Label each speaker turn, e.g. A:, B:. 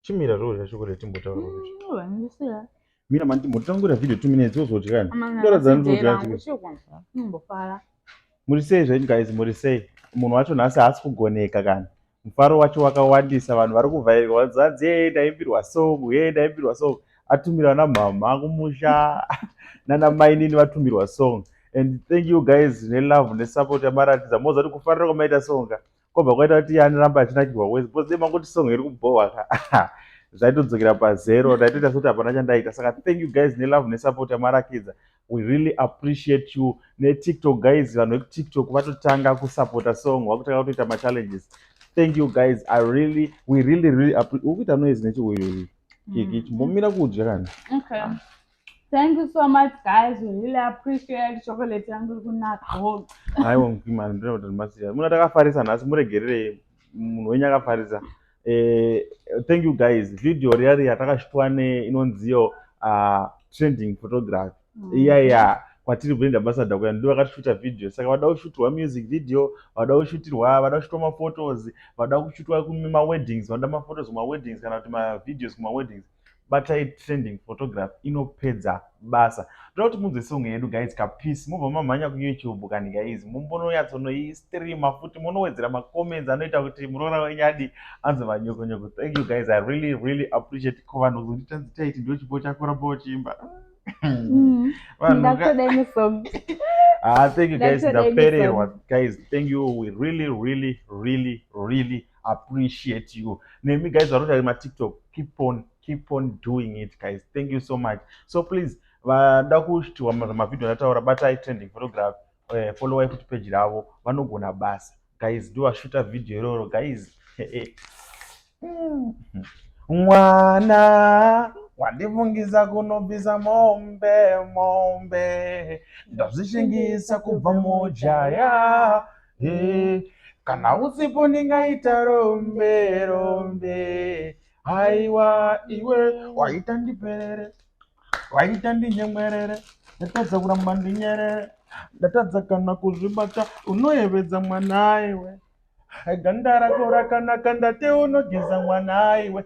A: chimira zvo zvacho kuti timbotaura kuti Mm, vanondisiya. mira mani timbotangura video two minutes wozodyani Amana, Ndoratidza kuti ndodya ndodya chikwe. chikwe. Ndimbofara. muri sei zvenyu guys muri sei munhu wacho nhasi haasi kugoneka kana mufaro wacho wakawandisa vanhu vari kuvhairwa vanzanzi yee ndaimbirwa song yee ndaimbirwa song atumirwa namhamha kumusha nana mainini vatumirwa song and thank you guys nelove nesupport yamaratidza moza kuti kufarira kwamaita songa kwobva kwaita kuti yani ramba achinakirwa wese because dai mangoti song iri kubhohwa ka zvaitodzokera pazero ndaitoita sekuti hapana chandaita saka thank you guys nelove nesupport yamarakidza we really appreciate you netiktok guys vanhu vekutiktok vatotanga kusupporta song vakutanga kutoita machallenges thank you guys i really we really really ukuita noise nechiuyuyu kiki mm-hmm. chimbomira kudya kana Thank you so much guys, we really appreciate chocolate yangu iri kunaka. Haiwa mkimani ndinoda kuti ndibatsira. Muna takafarisa nhasi muregerere munhu wenyu akafarisa. Eh, thank you guys. Video riya riya takashitwa ne inonziyo uh, ah, trending photography. Mm. Iya iya kwatiri brand ambassador kuya ndivo vakashuta video saka vada kushutirwa music video vada kushutirwa vada kushutirwa maphotos vada kushutirwa kumaweddings vanoda maphotos kumaweddings kana kuti mavideos kumaweddings batai trending photograph inopedza basa toda kuti munzwe song yedu guys kapeace mobva mamhanya kuyoutube kani guys mumbononyatsonoistreama futi monowedzera macomments anoita kuti muroora wenyu adi anzi vanyokonyoko thank you guys i really really appreciate ko vanhu kuzonditanzi taiti ndo chipo chako ramba uchiimba mm. ah, thank you guys ndapererwa guys thank you we really really really really appreciate you nemi guys vanoita matiktok keep on keep on doing it guys thank you so much so please vanoda kuitiwa mavhidhio ndataura batai trending photography uh, eh, followai futi peji ravo vanogona basa guys ndovashuta vhidhio iroro guys mwana wandifungisa kunobvisa mombe mombe ndazvishingisa kubva mujaya Hey, kana usipo ndingaita rombe rombe haiwa iwe waita ndiperere waita ndinyemwerere ndatadza kuramba ndinyerere ndatadza kana kuzvibata unoyevedza mwana iwe ganda rako rakanaka ndate unogeza mwana iwe